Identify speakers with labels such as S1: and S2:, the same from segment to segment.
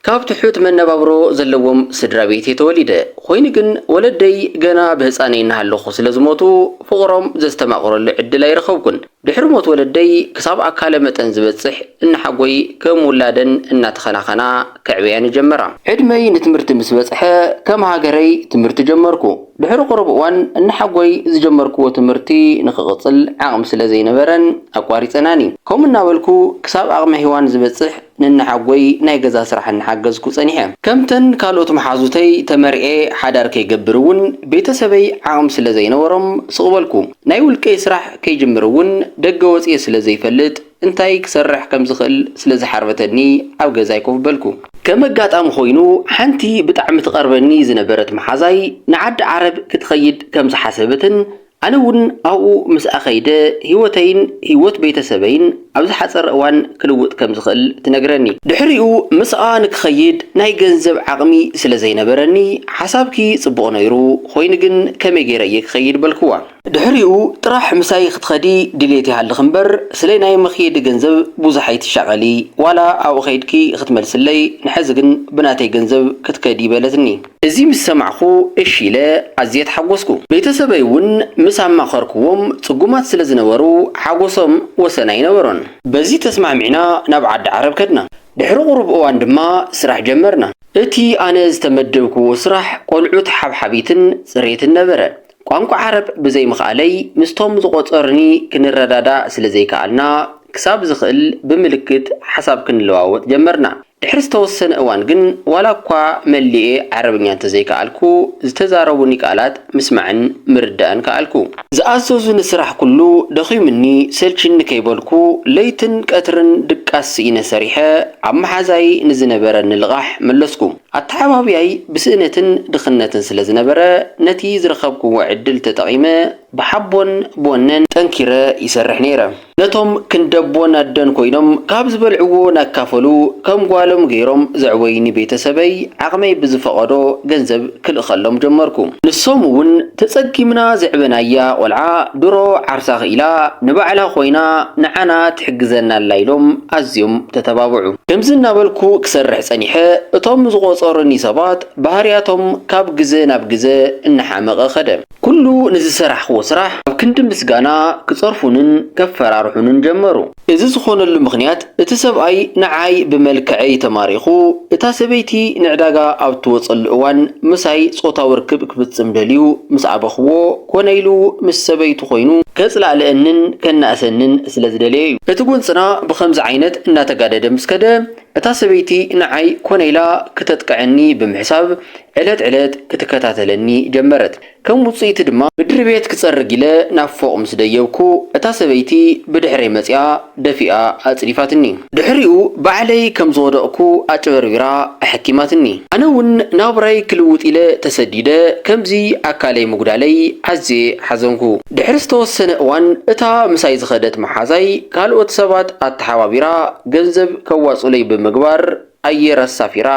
S1: ካብ ትሑት መነባብሮ ዘለዎም ስድራቤት'የ ተወሊደ፣ ኾይኑ ግን ወለደይ ገና ብህጻነይ እናሃለኹ ስለ ዝሞቱ ፍቕሮም ዘስተማቕረሉ ዕድል ኣይረኸብኩን። ድሕሪ ሞት ወለደይ ክሳብ ኣካለ መጠን ዝበጽሕ እነሓጎይ ከም ውላደን እናተኸናኸና ከዕብያኒ ጀመራ። ዕድመይ ንትምህርቲ ምስ በጽሐ ከም ሃገረይ ትምህርቲ ጀመርኩ። ድሕሪ ቁሩብ እዋን እነሓጎይ ዝጀመርክዎ ትምህርቲ ንኽቕጽል ዓቕሚ ስለ ዘይነበረን ኣቋሪጸናኒ። ከምኡ እናበልኩ ክሳብ ኣቕመ ሄዋን ዝበጽሕ ነንሓጎይ ናይ ገዛ ስራሕ እናሓገዝኩ ጸኒሐ። ከምተን ካልኦት መሓዙተይ ተመርዕየ ሓዳር ከይገብር እውን ቤተሰበይ ዓቕሚ ስለ ዘይነበሮም ስቕ በልኩ። ናይ ውልቀይ ስራሕ ከይጅምር እውን ደገ ወጺኤ ስለ ዘይፈልጥ እንታይ ክሰርሕ ከም ዝኽእል ስለ ዝሓርበተኒ ኣብ ገዛይ ኮፍ በልኩ። ከም ኣጋጣሚ ኮይኑ ሓንቲ ብጣዕሚ ትቐርበኒ ዝነበረት መሓዛይ ንዓዲ ዓረብ ክትኸይድ ከም ዝሓሰበትን ኣነ እውን ኣብኡ ምስኣ ከይደ ህይወተይን ህይወት ቤተሰበይን ኣብ ዝሓጸረ እዋን ክልውጥ ከም ዝኽእል ትነግረኒ። ድሕሪኡ ምስኣ ንክኸይድ ናይ ገንዘብ ዓቕሚ ስለ ዘይነበረኒ፣ ሓሳብኪ ጽቡቕ ነይሩ፣ ኾይኑ ግን ከመይ ገይረ እየ ክኸይድ? በልክዋ። ድሕሪኡ ጥራሕ ምሳይ ክትኸዲ ድልየት ይሃልኽ እምበር ስለ ናይ መኽየዲ ገንዘብ ብዙሕ ኣይትሻቐሊ፣ ዋላ ኣብኡ ከይድኪ ክትመልስለይ፣ ንሐዚ ግን ብናተይ ገንዘብ ክትከዲ በለትኒ። እዚ ምስ ሰማዕኩ እሺ ኢለ ኣዝየ ተሓጎስኩ። ቤተሰበይ እውን ምስ ኣማኸርኩዎም ፅጉማት ስለ ዝነበሩ ሓጎሶም ወሰን ኣይነበሮን። በዚ ተስማዕሚዕና ናብ ዓዲ ዓረብ ከድና። ድሕሪ ቁሩብ እዋን ድማ ስራሕ ጀመርና። እቲ ኣነ ዝተመደብኩዎ ስራሕ ቆልዑት ሓብሓቢትን ፅሬትን ነበረ። ቋንቋ ዓረብ ብዘይምኽኣለይ ምስቶም ዝቆፀሩኒ ክንረዳዳእ ስለ ዘይከኣልና ክሳብ ዝኽእል ብምልክት ሓሳብ ክንለዋወጥ ጀመርና። ድሕሪ ዝተወሰነ እዋን ግን ዋላ እኳ መሊኤ ዓረብኛ እንተዘይከኣልኩ፣ ዝተዛረቡኒ ቃላት ምስማዕን ምርዳእን ከኣልኩ። ዝኣዘዙኒ ስራሕ ኩሉ ደኺሙኒ ሰልቺኒ ከይበልኩ ለይትን ቀትርን ድቃስ ስኢነ ሰሪሐ ኣብ መሓዛይ ንዝነበረኒ ልቓሕ መለስኩ። ኣተዓባብያይ ብስእነትን ድኽነትን ስለ ዝነበረ ነቲ ዝረኸብኩዎ ዕድል ተጠቒመ ብሓቦን ብወነን ጠንኪረ ይሰርሕ ነይረ። ነቶም ክንደቦን ኣደን ኮይኖም ካብ ዝበልዕዎ ናካፈሉ ከም ጓሎም ገይሮም ዘዕበዩኒ ቤተሰበይ ዓቕመይ ብዝፈቐዶ ገንዘብ ክልእኸሎም ጀመርኩ። ንሶም እውን ተፀጊምና ዘዕበናያ ቆልዓ ድሮ ዓርሳ ክኢላ ንባዕላ ኮይና ንዓና ትሕግዘና ኣላ ኢሎም ኣዝዮም ተተባብዑ። ከምዚ እናበልኩ ክሰርሕ ፀኒሐ እቶም ዝቖፀሩኒ ሰባት ባህርያቶም ካብ ግዘ ናብ ግዘ እናሓመቐ ከደ። ኩሉ ንዝሰራሕክዎ ስራሕ ኣብ ክንዲ ምስጋና ክጸርፉንን ከፈራርሑንን ጀመሩ። እዚ ዝኾነሉ ምኽንያት እቲ ሰብኣይ ንዓይ ብመልክዐይ ተማሪኹ እታ ሰበይቲ ንዕዳጋ ኣብ እትወጸሉ እዋን ምሳይ ጾታዊ ርክብ ክፍጽም ደልዩ ምስ ኣበኽዎ ኮነ ኢሉ ምስ ሰበይቱ ኮይኑ ከጽላእልኣንን ከናእሰንን ስለዝደለየ እዩ። እቲ ጎንጽና ብኸምዚ ዓይነት እናተጋደደ ምስ ከደ፣ እታ ሰበይቲ ንዓይ ኮነ ኢላ ክተጥቅዐኒ ብምሕሳብ ዕለት ዕለት ክትከታተለኒ ጀመረት። ከም ውጽኢቱ ድማ። ምድሪቤት ክጸርግ ኢለ ናብ ፎቕ ምስ ደየብኩ፣ እታ ሰበይቲ ብድሕረይ መጺኣ ደፊኣ ኣጽዲፋትኒ። ድሕሪኡ ባዕለይ ከም ዝወደቕኩ ኣጭበርቢራ ኣሐኪማትኒ። ኣነ እውን ናብራይ ክልውጥ ኢለ ተሰዲደ ከምዚ ኣካለይ ምጉዳለይ ኣዝየ ሓዘንኩ። ድሕሪ ዝተወሰነ እዋን እታ ምሳይ ዝኸደት መሓዛይ ካልኦት ሰባት ኣተሓባቢራ ገንዘብ ከዋጹለይ ብምግባር ኣየር ኣሳፊራ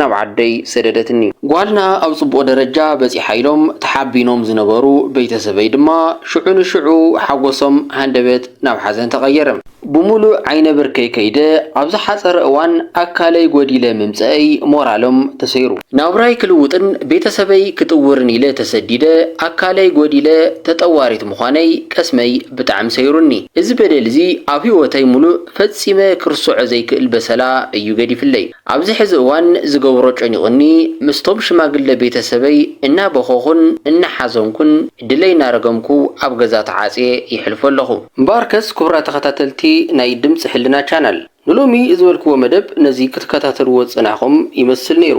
S1: ናብ ዓደይ ሰደደትኒ። ጓልና ኣብ ጽቡቕ ደረጃ በጺሓ ኢሎም ተሓቢኖም ዝነበሩ ቤተሰበይ ድማ ሽዑ ንሽዑ ሓጎሶም ሃንደበት ናብ ሓዘን ተቐየረ። ብምሉእ ዓይነ ብርከይ ከይደ ኣብ ዝሓጸረ እዋን ኣካለይ ጎዲለ ምምጸእይ ሞራሎም ተሰይሩ። ናብራይ ክልውጥን ቤተሰበይ ክጥውርን ኢለ ተሰዲደ ኣካለይ ጎዲለ ተጠዋሪት ምዃነይ ቀስመይ ብጣዕሚ ሰይሩኒ። እዚ በደል'ዚ ኣብ ህይወተይ ምሉእ ፈጺመ ክርስዖ ዘይክእል በሰላ እዩ ገዲፍለይ። ኣብዚ ሕዚ እዋን ዝገብሮ ጨኒቑኒ ምስቶም ሽማግለ ቤተሰበይ እናበኸኹን እናሓዘንኩን ድለይ እናረገምኩ ኣብ ገዛ ተዓጽየ የሕልፎ ኣለኹ። እምበኣርከስ ክቡራት ተኸታተልቲ ናይ ድምጺ ሕልና ቻናል ንሎሚ ዝበልክዎ መደብ ነዚ ክትከታተልዎ ዝጸናሕኹም ይመስል ነይሩ።